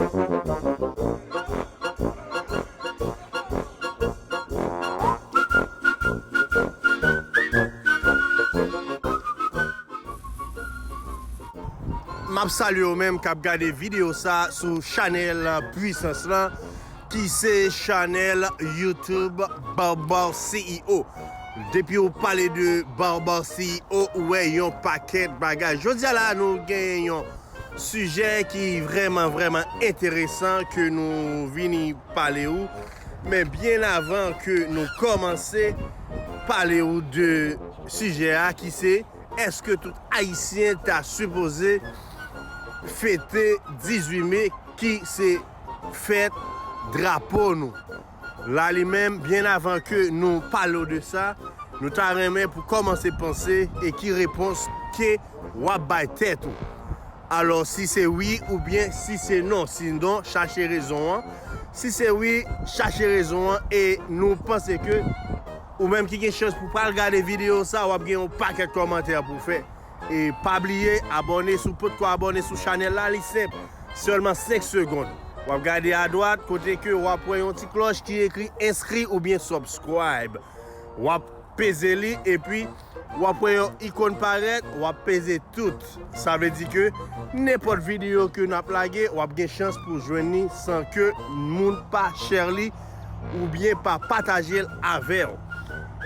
Map salye ou menm kap gade video sa sou chanel pwisans lan ki se chanel youtube barbar CEO depi ou pale de barbar CEO ou wè yon pakèt bagay jodi a la nou gen yon Sijè ki vrèman vrèman enteresan ke nou vini pale ou, men byen avan ke nou kòmanse pale ou de sijè a ki se, èske tout ayisyen ta sipoze fete 18 me ki se fèt drapo nou? la li menm byen avan ke nou palo de sa nou ta renmen pou kòmanse panse e ki repons ke wap bay tèt ou alò si se wi ou byen si se non si non chache rezon an si se wi chache rezon an e nou panse ke ou menm ki gen chans pou pral gade video sa wap gen yon pakèt kòmantè pou fè. E pa bliye abòne si w potko abòne sou chanèl la li senp sèlman 5 segond wap gade adwat kote ke wap wè yon ti klòch ki ekri enskri oubyen subscribe wap peze li epi wap wè yon ikon parèt wap peze tout sa vle di ke nenpòt videyo ke nap lage wap gen chans pou jwenn li san ke moun pa share li. oubyen pa pataje l avè w.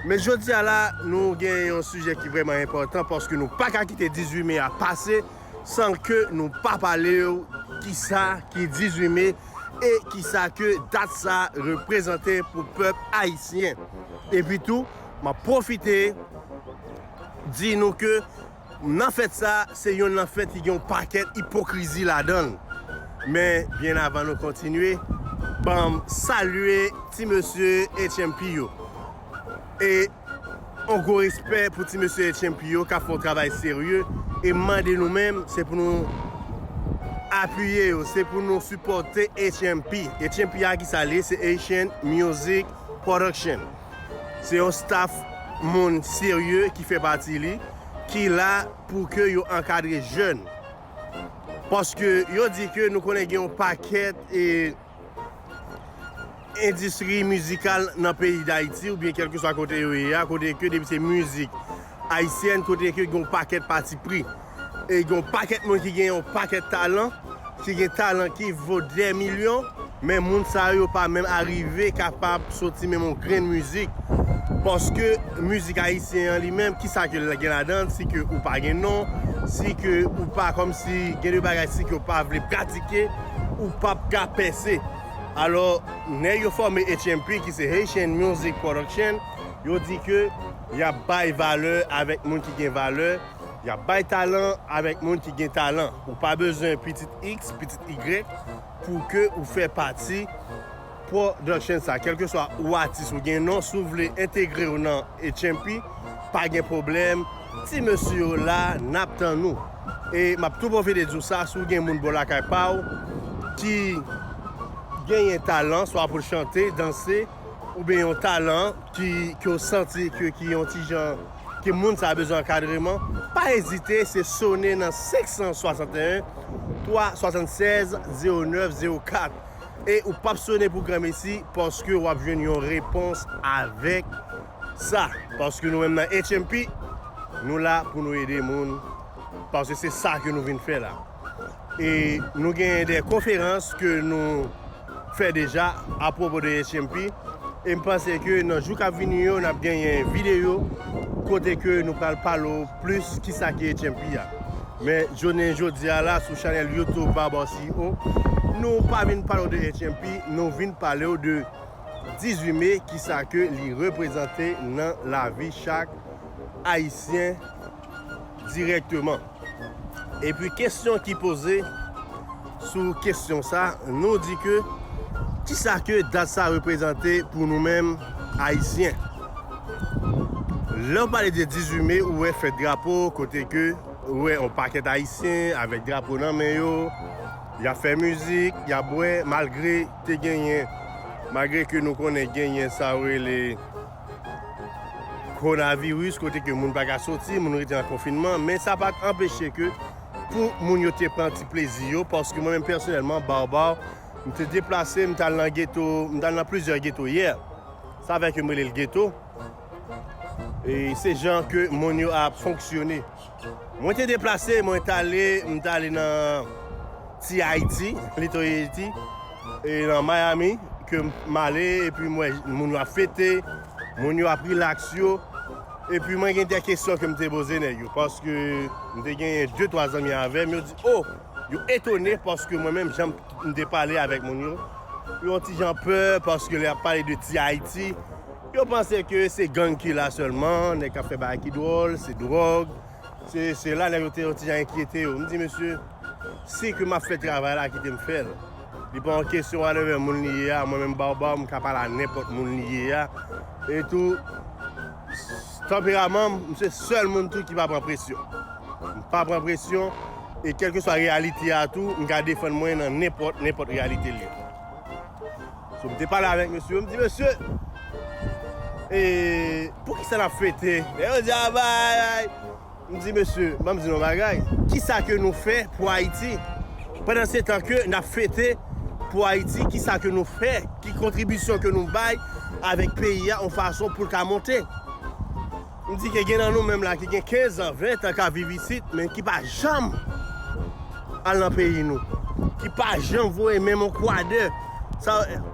Men jodi a la nou gen yon sijè ki vrèman enpòtan paske nou pa ka kite 18 me a pase san ke nou pa pale w kisa ki 18 me e kisa ke dat sa reprezante pou pèp ayisyen. Epi tou m ap pwofite di nou ke Nan fèt sa, se yon nan fèt ki gen yon pakèt ipokrizi ladan l. Men, byen avan nou kontinye, ban m salye ti mesye HMP yo. E yon gwo respè pou ti mesye HMP yo k ap fè yon travay serye. E m mande nou menm, se pou nou apiye yo, se pou nou sipòte HMP. HMP a ki sa l ye? Se Haitian Music Production se yon staff moun serye ki fè pati li ki la pou ke yo ankadre jèn paske yo di ke nou konnen gen yon pakèt endistri mizikal nan peyi dayiti oubyen kelkeswa kote yo ye a kote ke depi se mizik ayisyèn kote ke gen yon pakèt patipri. E gen yon pakèt moun ki gen yon pakèt talan, ki gen talan ki vo dè milyon, men moun sa yo pa menm arive kapab soti menm yon grenn mizik. Paske mizik ayisyen an li menm, ki sa ke l gen ladan l, si ke ou pa gen non, si ke ou pa kòmsi gen de bagay si ke ou pa vle pratike, ou p ap ka pèse. Alò, nèg yo fòme HMP ki se Haitian Music Production, yo di ke y ap bay valè avèk moun ki gen valè, Yap bay talan avek moun ki gen talan ou pa bezwen pitit x pitit y pou ke ou fè pati production sa kelkeswa ou atis ou gen non si w vle entegrew nan HMP pa gen pwoblèm ti mesye yo la nap tann ou e map tou pwofite di w sa si w gen moun bò lakay pa w ki genyen talan swa pou l chante danse oubyen yon talan ki ke w santi ke ki yon ti jan ke moun sa bezwen ankadreman, pa ezite se sone nan 561 376 0904 e ou pap sone pou granmesi paske wap jwenn yon repons avèk sa paske nou menm nan HMP nou la pou nou ede moun paske se sa ke nou vin fè la e nou gen de konferans ke nou fè deja apwopo de HMP e m panse ke nan jou kap vini yo nap genyen videyo kote ke nou pral pale w plis kisa ki HMP a men jounen jodi a la sou chanèl youtube Barbar CEO nou pa vin pale w de HMP nou vin pale w de 18 mai kisa ke li reprezante nan lavi chak ayisyen. dirèkteman. Epi kesyon ki poze sou kesyon sa nou di ke kisa ke dat sa reprezante pou nou menm ayisyen. Lè ou pale de 18 me ou wè fèt drapo kote ke ou wè yon pakèt ayisyen avèk drapo nan men yo, ya fè mizik, ya bwè malgre te genyen, malgre ke nou konnen genyen sa yo rele. Kowonaviris kote ke moun pa ka soti, moun rete an konfinman, men sa pa t anpeche ke pou moun yo te pran ti plezi yo, paske mwen menm pèsonèlman, Baobab, m te deplase, m t al nan geto, m t al nan plizyè geto yè, sa fè ke m rele l geto, e se jan ke moun yo ap fonksyone. Mwen te deplase, mwen t ale, m t ale nan ti Ayiti, Little Haiti, e nan Miami ke m ale epi m wè moun yo ap fete, moun yo ap rilaks yo, epi mwen gen de kesyon ke m te poze nèg yo paske m te gen de twa zanmi avè m, yo di o, yo etone paske mwen menm jan m te pale avèk moun yo, yo yon ti jan pè paske lè y ap pale de ti Ayiti. Yo panse ke se gang ki la sèlman, nèg k ap fè bagay ki dwòl, se dwòg, se sela, nèg yo te yon ti jan enkyete yo. M di mesye, si ke m ap fè travay la, kite m fè l. Li pa yon kesyon whatever moun li ye a, mwen menm Baobab, m ka pale a nenpòt moun li ye a. E tou, tanperaman m, m se sèl moun tou ki pa pran presyon. M pa pran presyon, e kèlkeswa reyalite a tou, m ka defann mwen nan nenpòt, nenpòt reyalite l ye. So m te pale avèk mesye yo, m di mesye e poukisa n ap fete lè yo di aba ayayy m di mesye ban m di nou yon bagay kisa ke nou fè pou Ayiti pandansetan ke n ap fete pou Ayiti kisa ke nou fè ki kontribisyon ke nou bay avèk peyi a yon fason pou l ka monte. M di ke gen nan nou menm la ki gen 15 an, 20 an ka viv isit men ki pa janm al nan peyi nou. Ki pa janm voye menm yon kwadè san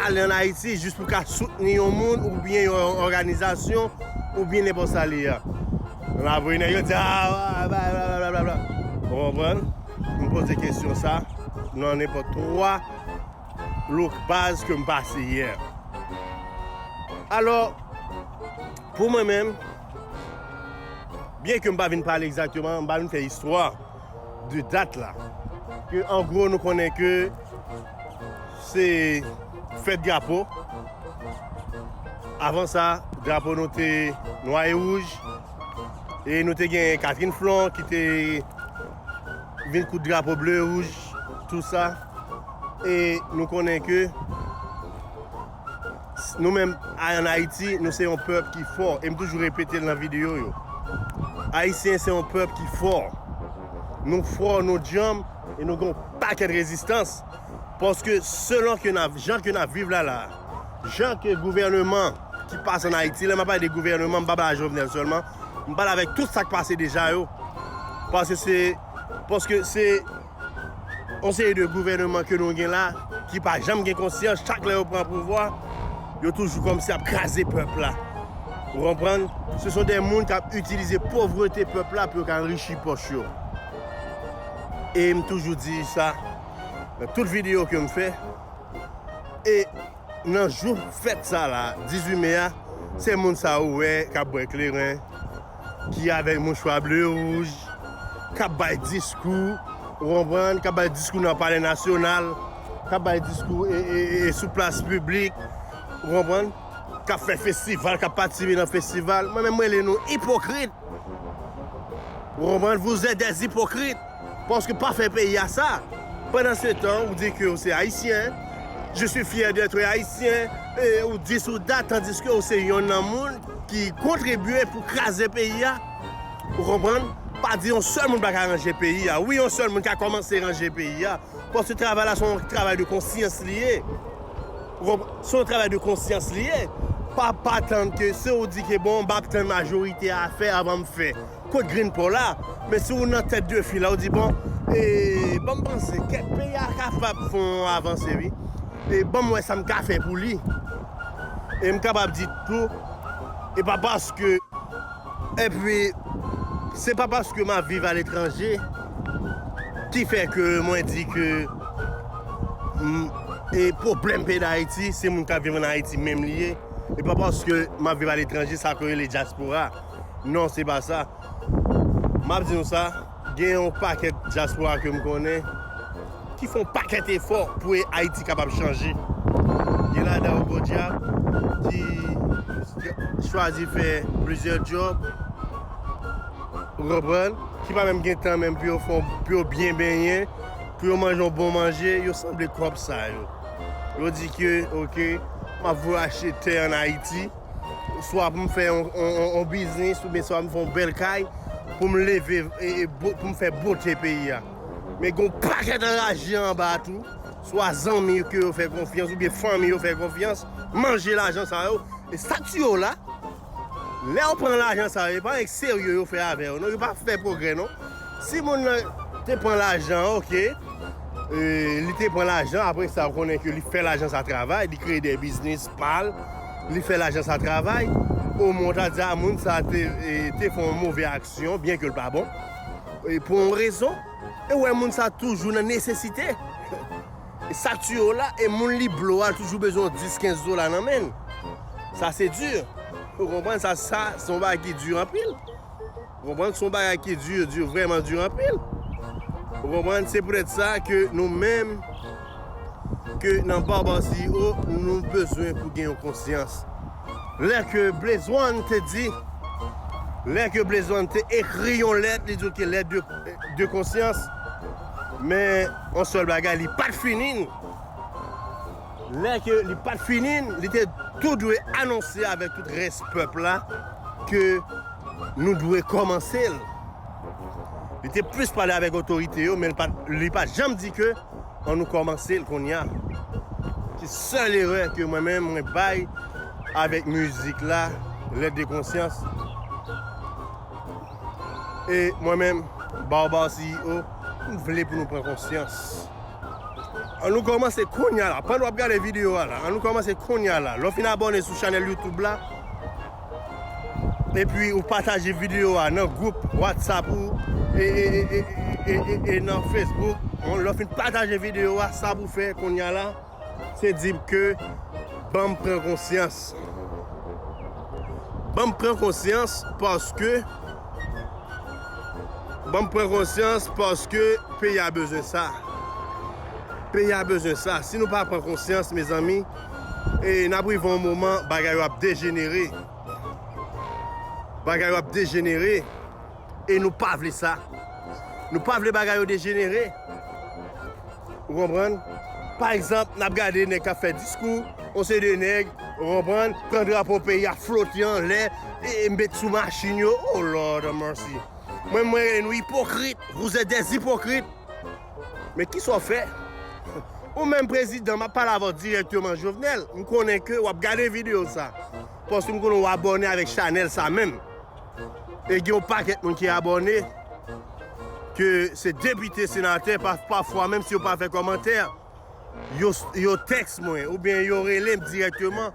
ale an Ayiti jis pou ka soutni yon moun oubyen yon òganizasyon oubyen nenpòt sa li a. M ap ri nèg yo di a blablabla. Ou konprann? M poze kesyon sa nan nenpòt 3. Look baz kem pase yè. Alò pou mwen menm byen kem pa vin pale egzakteman m pa vin fè istwa de dat la ke an gwo nou konnen ke se fèt drapo avan sa drapo nou te nwa e wouj e nou te gen Catherine Flon ki te vin koud drapo ble e wouj tou sa. E nou konnen ke nou menm an Ayiti, nou se yon pèp ki fò. E m toujou repete l nan videyo yo. Ayisyen se yon pèp ki fò. Nou fò, nou djanm, e nou gen yon pakèt rezistans. Paske selon ke nan jan ke nan viv la la, jan ke gouvèneman ki pase an Ayiti, lè m ap pale de gouvèneman, m pa pale a Jovenel sèlman, m pale avèk tout sa k pase deja yo. Paske se, paske se. On seri de gouvèneman ke nou gen la ki pa janm gen konsyans, chak lè yo pran pouvwa, yo toujou kòmsi ap kraze pèp la. Ou konprann? Se son de moun kap itilize povrete pèp la pou yo ka anrichi pòch yo. E m toujou di sa nan tout videyo ke m fè. E nan jou fèt sa la, 18 me a, se moun sa ou wè kap bwè kleren, ki avèk mouchwa ble e wouj, k ap bay diskou, ou konprann, k ap bay diskou nan palè nasyonal, k ap bay diskou sou plas piblik, ou konprann, k ap fè festival, k ap patisipe nan festival. Mwen menm m rele nou ipokrit. Ou konprann? Vous êtes des hypocrites. Paske pa fè peyi a sa. Pandan se tan ou di ke ou se ayisyen, je suis fier d'etre haïtien, e ou di sou dat tandiske ou se yonn nan moun ki kontribye pou kraze peyi a. Ou konprann? Pa di yon sèl moun pa ka ranje peyi a. Wi yon sèl moun ka kòmanse ranje peyi a. Paske travay la se yon travay de konsyans li ye. Ou konprann? Se yon travay de konsyans li ye. Pa pa tann ke si ou di ke bon m ap tann majorite a fè avan m fè. Kot grenn paw la? Men si ou nan tèt de fil la ou di bon e banm panse kèk peyi a kapab fon avanse wi e banm wè sam ka fè pou li e m kapab di tou e pa paske epi se pa paske map viv a letranje ki fè ke mwen di ke e pwoblèm peyi dayiti se moun kap viv an ayiti menm li ye e pa paske map viv a letranje sa ke rele dyaspora. Non se pa sa. Map di nou sa, gen yon pakèt dyaspora ke m konnen ki fè yon pakèt efò pou Ayiti kapab chanje. Gen ladan yo podyab ki chwazi fè plizyè djòb, ou konprann, ki pa menm gen tan menm pou yo fè, pou yo byen benyen, pou yo manje yon bon manje, yo sanble kòb sa yo. Yo di ke ok, map voye achte tè an Ayiti. Swa pou m fè yon biznis oubyen swa pou m fè yon bèl kay pou m leve e pou m fè bote peyi a. Men gen yon pakèt anraje anba a tou, swa zanmi yo ke yo fè konfyans oubyen fanmi yo fè konfyans manje lajan sa yo. E sa k tiye w la, lè ou pran lajan sa yo e pa yon serye yo fè avè w non, yo pa fè pwogrè non. Si moun nan te pran lajan an ok, li te pran lajan apresa ou konnen ke li fè lajan sa travay, li kreye de biznis, Pal, li fè lajan sa travay, omwen ou ta di a moun sa te fè yon move aksyon, byen ke l pa bon, pou yon rezon, e ou wè moun sa toujou nan nesesite, sa k tiye w la, e moun li blo a toujou bezwen yon 10, 15 dola nan men l, sa se di, ou konprann sa, sa se yon bagay ki di anpil. Ou konprann? Son bagay ki dur, dur, vrèman dur anpil. Ou konprann? Se poutèt sa ke nou menm, ke nan Barbar CEO, nou bezwen pou gen yon konsyans. Lè ke Blaze One te di, lè ke Blaze One te ekri yon lèt, li di ok, lèt de, de konsyans, men yon sèl bagay, li pat fini nou. Lè ke li pat fini, li te tou dwe anonse avèk tout rès pèp la ke nou dwe kòmanse l. Li te plis pale avèk otorite yo men li pat janm di ke an nou kòmanse l kounya. Se sèl erè ke mwen menm mwen bay avèk mizik la, Lèt de konsyans. E mwen menm, Baobao CEO, m vle pou nou pran konsyans. An nou kòmanse kounya la. Pandan wap gade video a la. An nou kòmanse kounya la. Lè w fin abòne sou chanèl YouTube la. Epi ou pataje video a nan gwoup WhatsApp ou. E nan Facebook. Lè w fin pataje video a. Sa pou fè kounya la. Se di m ke banm pran konsyans. Banm pran konsyans paske banm pran konsyans paske peyi a bezwen sa. Peyi a bezwen sa. Si nou pa pran konsyans mezanmi e n ap rive yon moman bagay yo ap dejenere. Bagay yo ap dejenere e nou pa vle sa. Nou pa vle bagay yo dejenere. ou konprann, pa egzanp nap gade nèg kap fè diskou, yon seri de nèg ou konprann, pran drapo peyi a flote anlè, e met sou machin yo, oh Lord have mercy, mwen menm mwen rele nou ipokrit, vous etes des hypocrites, men kisa w fè, ou menm prezidan map pale avè w dirèkteman Jovenel, m konnen ke wap gade video sa, paske m konnen w abòne avèk chanèl sa menm, E gen yon pakèt moun ki abòne ke se depite, senatè, pafwa menm si yo pa fè kòmantè yo tèks mwen oubyen yo rele m dirèkteman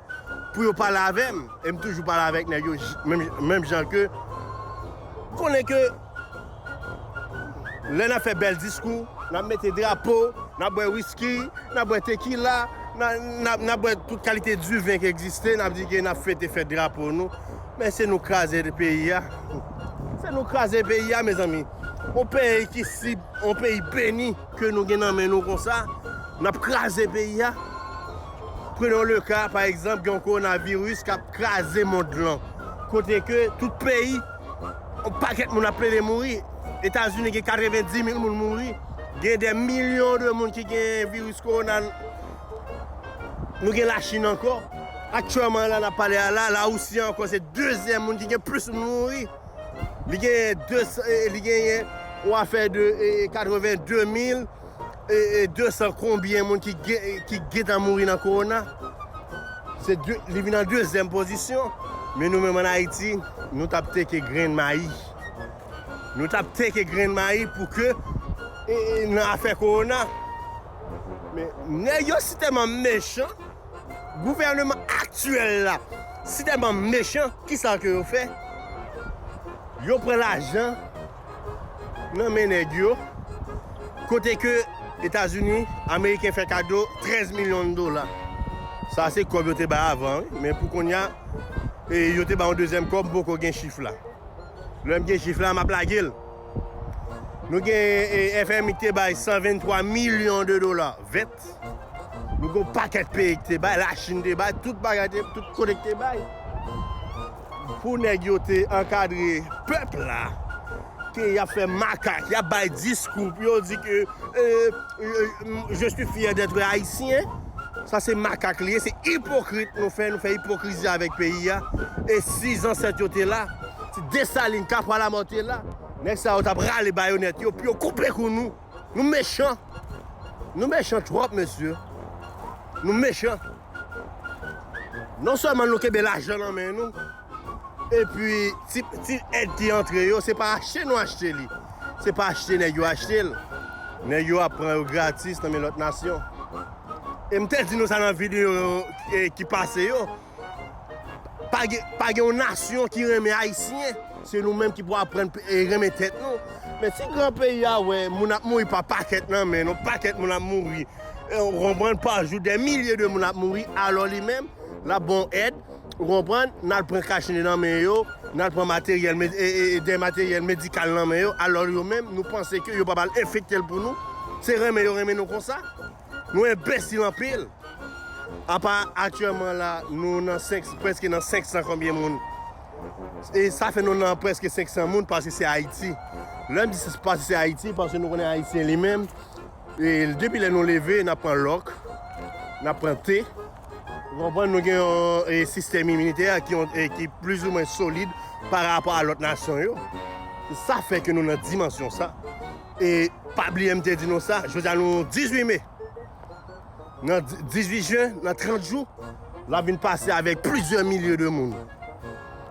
pou yo pale avè m e m toujou pale avèk nèg yo menm jan ke konnen ke lè n ap fè bèl diskou n ap mete drapo n ap bwè wiski n ap bwè tekila n ap bwè tout kalite diven ki egziste n ap di ke n ap fete fèt drapo nou. Men se nou kraze peyi a. Se nou kraze peyi a mezanmi. On peyi ki si, on peyi beni ke nou gen nan men nou konsa, nap kraze peyi a. Prenons le ka pa egzanp gen yon coronavirus kap kraze mond lan. Kote ke tout peyi, on pakèt moun ap plede mouri. Etazini gen 90 mil moun mouri. Gen de milyon de moun ki gen virus corona. Nou gen Lachin ankò. Aktyèman la n ap pale a la, Lawousi ankò se dezyèm moun ki gen plis moun mouri. Li genyen 200, li genyen yon afè de 82 mil 200 konbyen moun ki gentan mouri nan kowona. Li vin an dezyèm pozisyon. Men nou menm an Ayiti, nou t ap teke grenn mayi. Nou t ap teke grenn mayi pou ke nan afè kowona. Men nèg yo si tèlman mechan, gouvèneman aktyèl la si tèlman mechan, kisa ke yo fè? Yo pran lajan nan men nèg yo, kote ke Etazini, Ameriken fè kado 13 milyon dola. Sa se kòb yo te bay avan wi, men pou kounya yo te bay yon dezyèm kòb, m poko gen chif la. Lè m gen chif la, m ap lage l. Nou gen FMI ki te bay 123 milyon de dola vèt. Nou gen pakèt peyi ki te bay, la Chine te bay, tout bagay te, tout kote ki te bay. Pou nèg yo te ankadre pèp la, ke y ap fè makak, y ap bay diskou, pou yo di ke je suis fier d'être haïtien, sa se makak li ye, se ipokrit nou fè, nou fè ipokrizi avèk peyi a, e si zansèt yo te la, Si Dessalines ta pran Lamothe la, nèg sa yo tap rale bayonèt yo pou yo koupe kou nou. Nou mechan. Nou mechan twòp mesye. Nou mechan. Non sèlman nou kenbe lajan nan men nou, epi ti èd ki antre yo, se pa achte nou achte li. Se pa achte nèg yo achte l. Nèg yo ap pran yo gratis nan men lòt nasyon. E m te di nou sa nan videyo ki pase yo. Pa gen yon nasyon ki renmen ayisyen, se nou menm ki pou aprann renmen tèt nou. Men ti gran peyi a wè moun ap mouri pa pakèt nan men nou, pakèt moun ap mouri, ou konprann, pa jou, dè milye de moun ap mouri, alò li menm, l ap ban w èd, ou konprann, n al pran kachnen nan men yo, n al pran materyèl, dè materyèl medikal nan men yo, alò yo menm, nou panse ke yo pa pral enfekte l pou nou, se renmen yo renmen nou konsa. Nou enbesil anpil. Apa aktyèman la nou nan preske nan 500 konbyen moun. E sa fè nou nan preske 500 moun pase se Ayiti. Lè m di se pase se Ayiti pase nou konnen Ayisyen li menm. E depi lè nou leve nan pran lòk. Nan pran te. Konprann nou gen yon sistèm iminitè ki plis ou mwen solid pa rapò a lòt nasyon yo. Sa fè ke nou nan dimansyon sa. E pa bliye m te di nou sa, jodi a nou 18 me, nan 18 jen, nan 30 jou, l ap vin pase avèk plizyè milye de moun.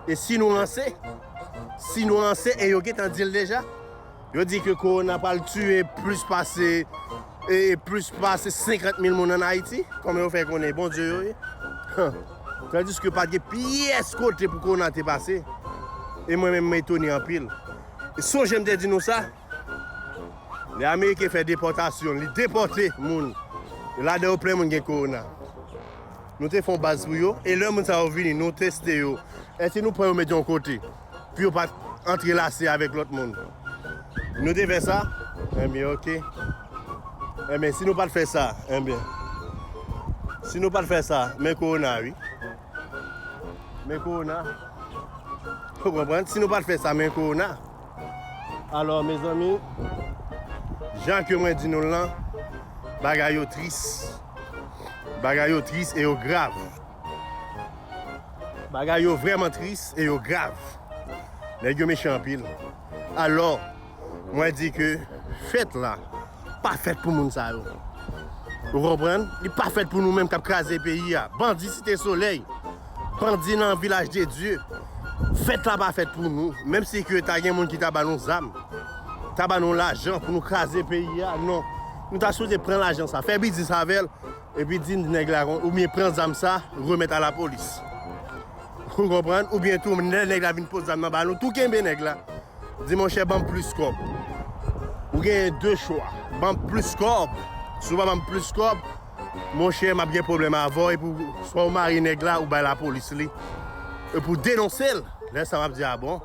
E si nou ranse, si nou ranse, e yo gen tan di l deja, yo di ke korona pral tiye plis pase, e plis pase 50 mil moun an Ayiti, kòman yo fè konnen Bondye yo ye? Han! Tandiske pa t gen pyès kote pou korona te pase, e mwen menm m etone anpil. Sonje m te di nou sa, lè ameriken fè depòtasyon, li depòte moun, e ladan yo plen moun gen kowona. Nou te fè yon baz pou yo, e lè moun sa yo vini, nou teste yo. Èske nou pran yo mete yon kote, pou yo pa antrelase avèk lòt moun? Nou te fè sa? Enben ok. Enben si nou pa t fè sa, enben, si nou pa t fè sa, men kowona wi. Men korona Ou konprann? Si nou pa t fè sa men korona Alò mezanmi Jan ke mwen di nou l lan Bagay yo tris Bagay yo tris e yo grav Bagay yo vrèman tris e yo grav Nèg yo mechan anpil Alò Mwen di ke fèt la pa fèt pou moun sa yo. Ou konprann? Li pa fèt pou nou menm k ap kraze peyi a. Bandi Site Solèy, bandi nan Vilaj de Dye, fèt la pa fèt pou nou. Menm si ke ta gen moun ki ta ba nou zam, ta ba nou lajan pou nou kraze peyi a, non. Nou ta sipoze pran lajan sa, fè biznis avè l. Epi di nèg la kon oubyen pran zam sa remèt a lapolis. Ou konprann? Oubyen tou lè nèg la vin pot zam nan ba nou tou kenbe nèg la. Di monchè banm plis kòb. Ou genyen 2 chwa. Banm plis kòb. Si ou pa banm plis kòb, monchè m ap gen pwoblèm avè w epi swa ou mare nèg la ou bay lapolis li epi w denonse l. Lè sa m ap di a bon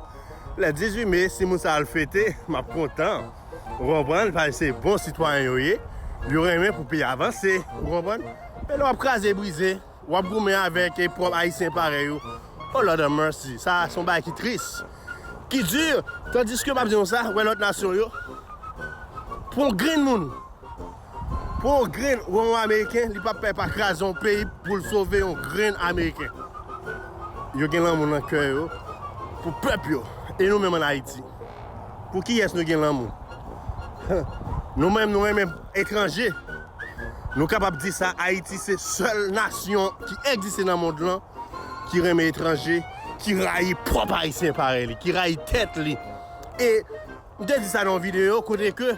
lè 18 me si moun sa al fete m ap kontan. Ou konprann, sa se bon sitwayen yo ye, yo renmen pou peyi a vanse, ou konprann. E lè w ap kraze brize, w ap goumen avèk pwòp Ayisyen parèy ou, oh Lord have mercy, sa se yon bagay ki tris, ki di, tandiske m ap di nou sa, ou wè lòt nasyon yo, pou yon grenn moun, pou yon grenn ou wè yon Ameriken, li pa p pè pa kraze yon peyi pou l sove yon grenn Ameriken. Yo gen lanmou nan kè yo pou pèp yo, e nou menm an Ayiti. Pou kiyès nou gen lanmou? Nou menm nou renmen etranje. Nou kapab di sa Ayiti se sèl nasyon ki egziste nan mond lan ki renmen etranje, ki rayi pwòp Ayisyen parèy li, ki rayi tèt li. E m te di sa nan yon videyo kote ke.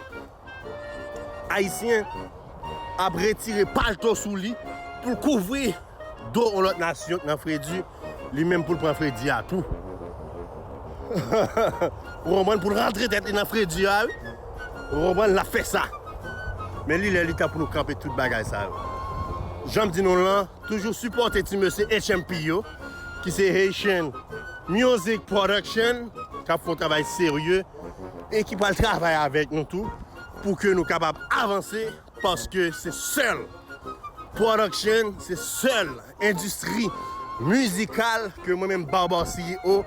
Ayisyen ap retire palto sou li pou l kouvri do yon lòt nasyon k nan fredi, li menm pou l pran fredi a tou. Ou konprann? Pou l rantre tèt li nan fredi a wi. Ou konprann? L ap fè sa. Men li lè li tan pou nou kanpe tout bagay sa yo. Jan m di nou lan, toujou sipòte ti mesye HMP yo, ki se Haitian Music Production, k ap fè yon travay serye. e ki pral travay avèk nou tou pou ke nou kapab avanse paske se sèl production, se sèl endistri mizikal ke mwen menm Barbar CEO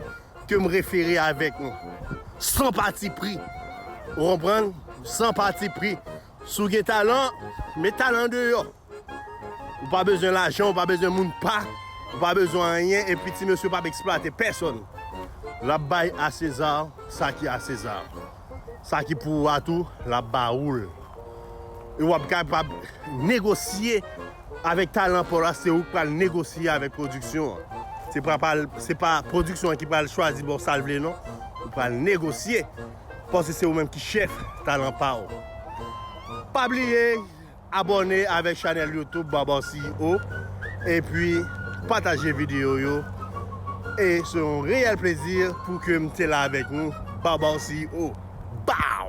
ke m refere avèk nou san pati pri ou konprann, san pati pri si w gen talan, met talan deyò. Ou pa bezwen lajan, ou pa bezwen moun pa, ou pa bezwen anyen epi ti mesye pap eksplwate pèsòn. Lap bay a César sa ki a César. Sa ki pou ou a tou lap ba ou l. E wap kapab negosye avèk talan paw la se ou ki pral negosye avèk pwodiksyon an. Se pa pral, se pa pwodiksyon an ki pral chwazi baw sal vle non. Ou pral negosye paske se ou menm ki chèf talan paw. Pa bliye. Abòne avèk chanèl YouTube Barbar CEO epi pataje videyo yo e se yon reyèl plezi pou ke m te la avèk nou Barbar CEO. Baww!